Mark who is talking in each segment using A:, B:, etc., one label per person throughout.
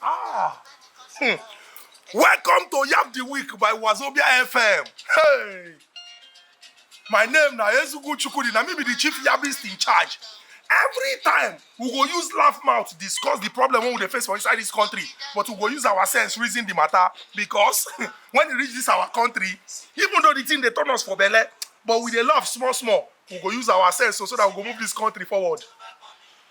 A: Ah. Hmm. Welcome to Yap the Week by Wazobia FM. Hey. My name na Ezugu Chukudi, na me be the chief yabist in charge. Every time we go use laugh mouth discuss the problem wey we dey face for inside this country, but we go use our sense reason the matter because when e reach this our country, even though the thing dey turn us for belle, but we dey laugh small small. We go use our sense so, so that we go move this country forward.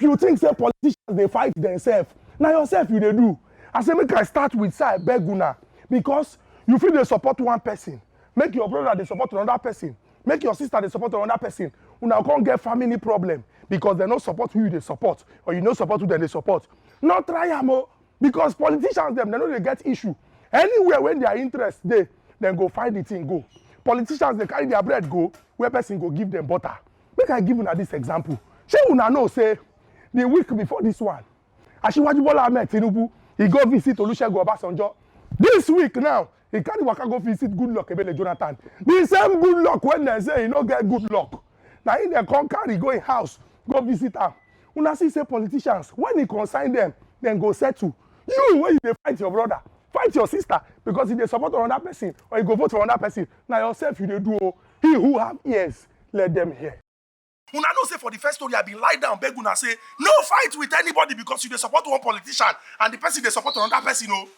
A: if you think say politicians dey fight themselves na yourself you dey do i say make i start with say i beg una because you fit dey support one person make your brother dey support another person make your sister dey support another person una come get family problem because dem no support who you dey support or you no support who dem dey support no try am o because politicians dem dem no dey get issue anywhere wey their interest dey dem go find the thing go politicians dey carry their bread go where person go give them butter Make I give una this example. Shey una know say the week before this one, Asiwaju Bola Ahmed Tinubu, he go visit Olusegun Obasanjo. This week now, he carry waka go visit Goodluck Ebele Jonathan. The same Goodluck when they say he no get good luck. Na him dem come carry go him house go visit am. Una see say politicians, when e concern them, dem go settle. You wey you dey fight your brother, fight your sister because you dey support another person or you go vote for another person, na yourself you dey do o. He who have ears, let them hear. Una know say for the first story I bin lie down beg una say no fight with anybody because you dey support one politician and the person dey support another person o.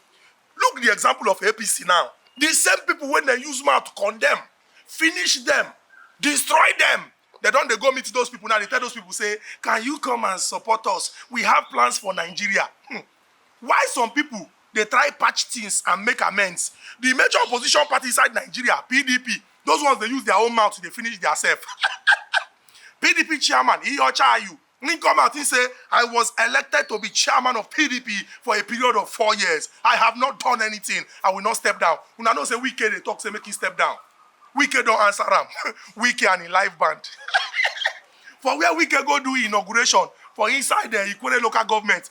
A: Look the example of APC now. The same people wey dem use mouth condemn, finish dem, destroy dem, dem don dey go meet those people now dey tell those people say can you come and support us we have plans for Nigeria. Hmm. While some pipo dey try patch tins and make amends, di major opposition party inside Nigeria, pdp, those ones dey use dia own mouth dey finish diasef. Pdp chairman, Iheocha Ayu, im come out, im say, I was elected to be chairman of pdp for a period of four years. I have not done anything. I will not step down. Una know say Wike dey talk say make im step down. Wike don answer am. Wike and im live band. For where Wike go do inauguration for inside Ikwere local government,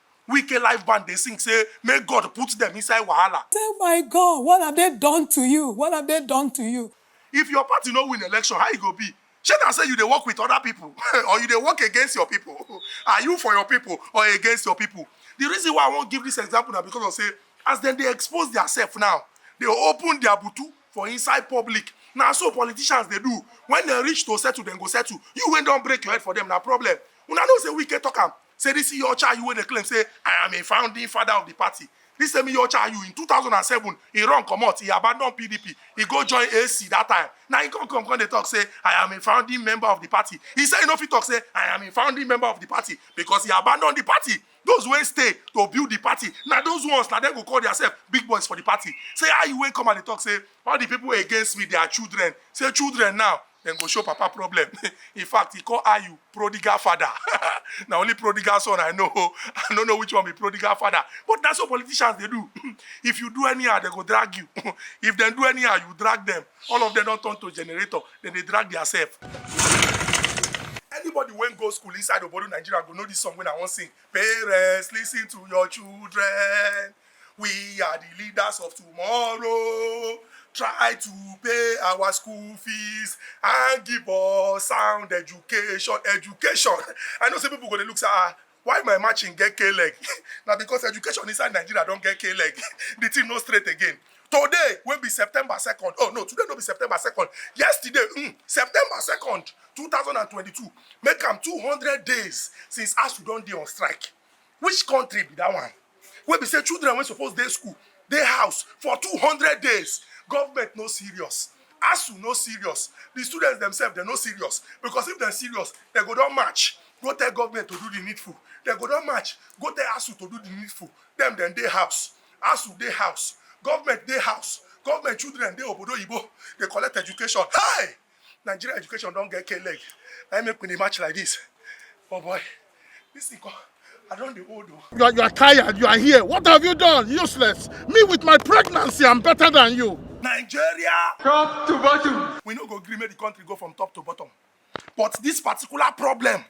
A: Wike live band dey sing say make God put dem inside wahala. Say my God what have they done to you, what have they done to you. If your party no win election how e go be? Shey na say you dey work with other people or you dey work against your people? Are you for your people or against your people? The reason why I wan give this example na because of say as dem dey expose their self now, dey open their butu for inside public, na so politicians dey do, when dem reach to settle dem go settle, you wey don break your head for them na problem, una know say Wike talk am. say this Iyorcha Ayu wey dey claim say I am a founding father of the party, this same Iyorcha Ayu in two thousand and seven he run comot, he abandon PDP, he go join AC that time, na him come come come dey talk say I am a founding member of the party, he say he no fit talk say I am a founding member of the party because he abandon the party, those wey stay to build the party na those ones na dem go call their self big boys for the party, say Ayu wey come and dey talk say all the people against me they are children, say children now dem go show papa problem in fact he call ayu prodigal father na only prodigal son i know i no know which one be prodigal father but na so politicians dey do if you do anyhow dem go drag you if dem do anyhow you drag them all of them don turn to generator dem dey drag their self. anybody wey go school inside obodo nigeria go know this song wey i wan sing parents lis ten to your children. We are the leaders of tomorrow. Try to pay our school fees and give us sound education. Education. I know some people go to look say, ah, why my matching get K-leg? now because education inside Nigeria don't get K-leg. the thing no straight again. Today will be September 2nd. Oh no, today no be September 2nd. Yesterday, mm, September 2nd, 2022. Make them 200 days since ASU don't be on strike. which country be that one wey be say children wey suppose dey school dey house for two hundred days government no serious asu no serious the students themselves dem no serious because if dem serious dem go don match go tell government to do the needful dem go don match go tell asu to do the needful dem dem dey house asu dey house government dey house government children dey obodo oyibo dey collect education hey Nigeria education don get K-leg. I make me match like this. Oh boy, this thing come. I don't the old though. You are, you are tired, you are here. What have you done? Useless. Me with my pregnancy, I'm better than you. Nigeria! Top to bottom. We no go agree make the country go from top to bottom. But this particular problem,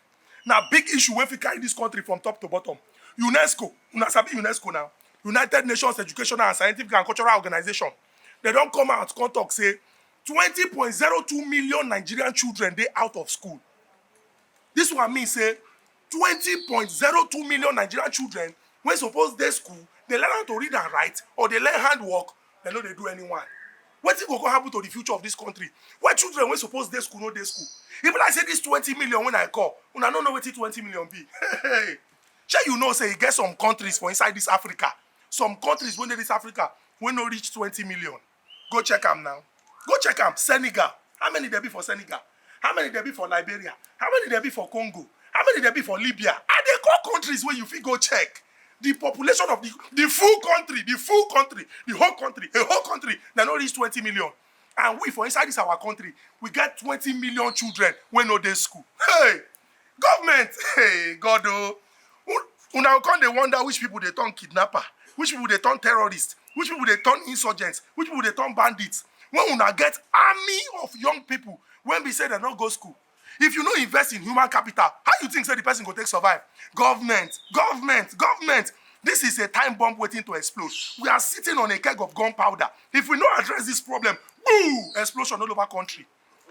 A: now big issue wey fit carry this country from top to bottom. UNESCO, una sabi UNESCO now, United Nations Educational and Scientific and Cultural Organization, they don't come out come talk say twenty point zero two million nigerian children dey out of school dis one mean say twenty point zero two million nigerian children wey suppose dey school dey learn how to read and write or dey learn hand work dem no dey do any one wetin go go happen to the future of dis country wey children wey suppose dey school no dey school e be like say dis twenty million wey i call una no know wetin twenty million be shey you know say e get some countries for inside dis africa some countries wey dey dis africa wey no reach twenty million Go check am now. Go check am. Senegal. How many there be for Senegal? How many there be for Liberia? How many there be for Congo? How many there be for Libya? Are they call countries where you fit go check? The population of the, the full country, the full country, the whole country, a whole country, they no reach 20 million. And we, for inside this our country, we get 20 million children when no day school. Hey! Government, hey, God, oh. Una go come dey wonder which people dey turn kidnapper, which people dey turn terrorists, which people dey turn insurgents, which people dey turn bandits. When una get army of young people when we say dem no go school, if you no invest in human capital how you think say the person go take survive government government government this is a time bomb waiting to explode we are sitting on a keg of gunpowder if we no address this problem boo explosion all over country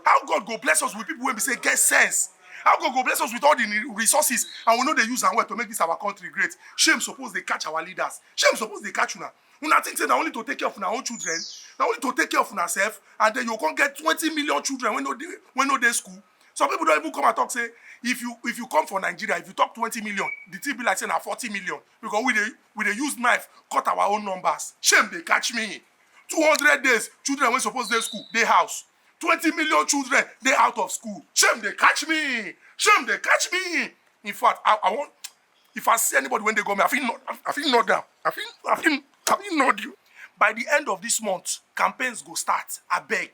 A: How God go bless us with people wey be say get sense? How God go bless us with all the resources and we no dey use am well to make this our country great? Shame suppose dey catch our leaders. Shame suppose dey catch una. Una think say na only to take care of una own children? Na only to take care of una self and then you come get twenty million children wey no dey wey no dey school? Some people don even come and talk say if you if you come for Nigeria, if you talk twenty million, the thing be like say na forty million because we dey we dey use knife cut our own numbers. Shame dey catch me. two hundred days children wey suppose dey school dey house twenty million children dey out of school shame dey catch me shame dey catch me in fact i i wan if i see anybody wey dey go me i fit nod i fit nod am i fit i fit i fit nod you by the end of this month campaigns go start abeg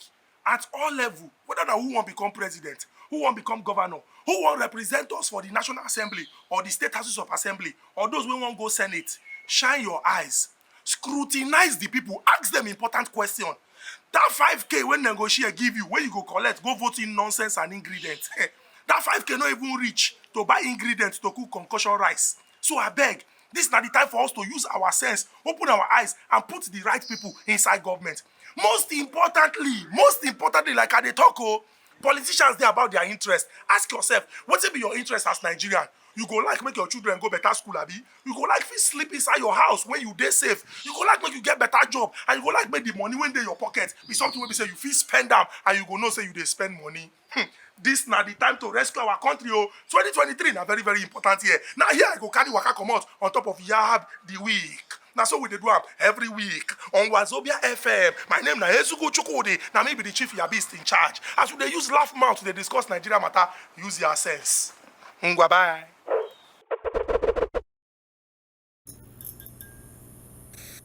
A: at all level whether na who wan become president who wan become governor who wan represent us for the national assembly or the state houses of assembly or those wey wan go senate shine your eyes scrutinize the people ask them important question that 5k wey dem go share give you wey you go collect go vote in nonsense and ingredient that 5k no even reach to buy ingredient to cook concussion rice so abeg Dis na di time for us to use our sense, open our eyes and put di right pipo inside government. Most importantly, most importantly like I dey tok o, politicians dey about dia interest. Ask yourself, wetin be your interest as Nigerian? You go like make your children go betta school abi? You go like fit sleep inside your house wey you dey safe? You go like make you get betta job and you go like make di money wey dey your pocket be something wey be say you fit spend am and you go know say you dey spend money? Hmm, this na the time to rescue our country oh. 2023 na very very important year. Now here I go carry waka comot on top of Yab the week. Now so we dey do am every week on Wazobia FM. My name na Ezuku Chukwudi. Na me be the chief yabist in charge. As we dey use laugh mouth dey discuss Nigeria matter, use your sense. Ngwa bye.